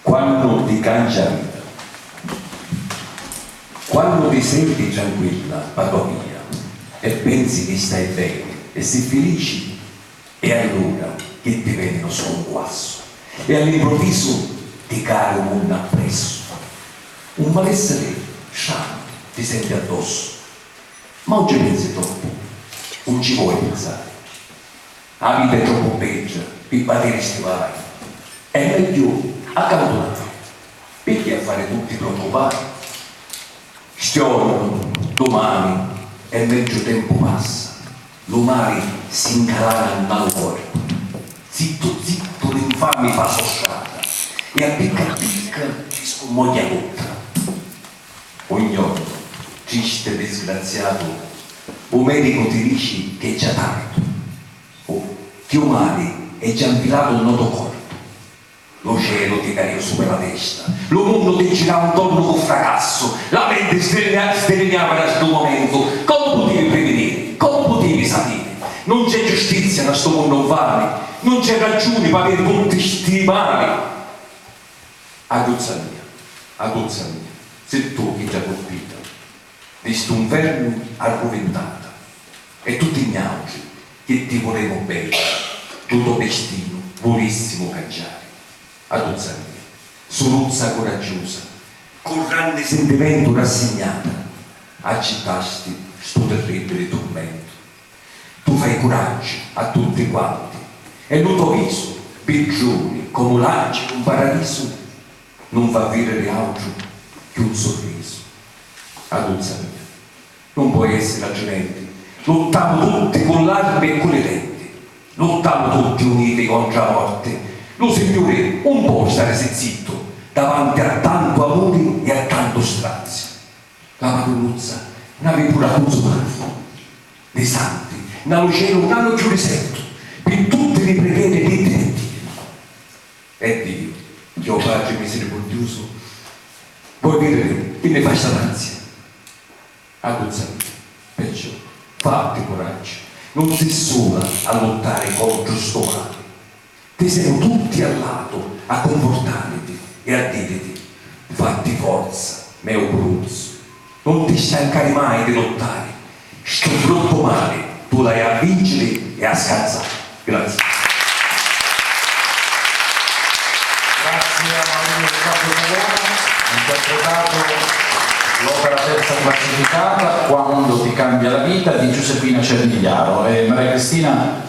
Quannu ti cancia a vita. Quannu ti senti tranquilla pâ to via e pensi chi stai beni e si filici e allura chi ti veni nu scunquassu e all'improvvisu ti cari u munnu appressu. Un malessiri stranu ti senti addossu. Ma un ci pensi troppu. Un ci voi pinsari. A vita è troppu beggia pi patiri sti guai, è megghiu accautunnari, picchì a fari tutti preoccupai. Stiornu, dumani, è megghiu tempu passa, lu mali si ncarana nna lu corpu. Zittu zittu l'infami fa so strata e a picca a picca ci scummogghia tutta. O gnottu, tristi e disgraziatu, u medicu ti dici ch'è già tardu. U chiù mali è già nfilatu nnô to corpu. Lu celu ti caiu supra la testa, lu munnu ti girau ntornu cu fracassu, la menti sdirignava nna stu momentu. Comu putivi prividiri? Comu putivi sapiri? Nun c'è giustizia nna stu munnu nfami, nun c'è raggiuni p'aviri tutti sti mali. Aguzza mia, aguzza mia, si' tu chi già curpita di stu 'nfernu arruvintata e tutti niautri chi ti vulemu beni, lu to destinu vulissimu cangiari. Aguzza mia, suruzza curaggiusa, cu ranni sintimentu rassignata accittasti stu tirribbili turmentu. Tu fai curaggi a tutti quanti e lu to visu biggiuni comu l'anci d'un paradisu nun fa viriri autru chi un surrisu. Aduzza mia, nun poi essiri atrimenti, luttamu tutti cu l'armi e cu li denti, luttamu tutti uniti contra a morti, lu Signuri un poi starisi zittu davanti a tantu amuri e a tantu straziu. La padrunuzza n'avi puru a puzzu mari. Li santi na lu celu na lu chiurisettu pi tutti li prigheri di detti. E Diu, chi o Patri misiricurdiusu, voi vidiri chi ni fa sta grazia. Agguzzaviti, perciò, fatti curaggiu, nun si sula a luttari contru stu mali. Ti semu tutti a latu a cunfurtariti e a diriti, Fatti forza, meu bruzzu, nun ti stancari mai di luttari, stu bruttu mali tu l'hai a vinciri e a scazzari. Grazie. Grazie a Marino di Campo Italiano ha interpretato l'opera terza classificata Quando ti cambia la vita di Giuseppina Cernigliaro e Maria Cristina.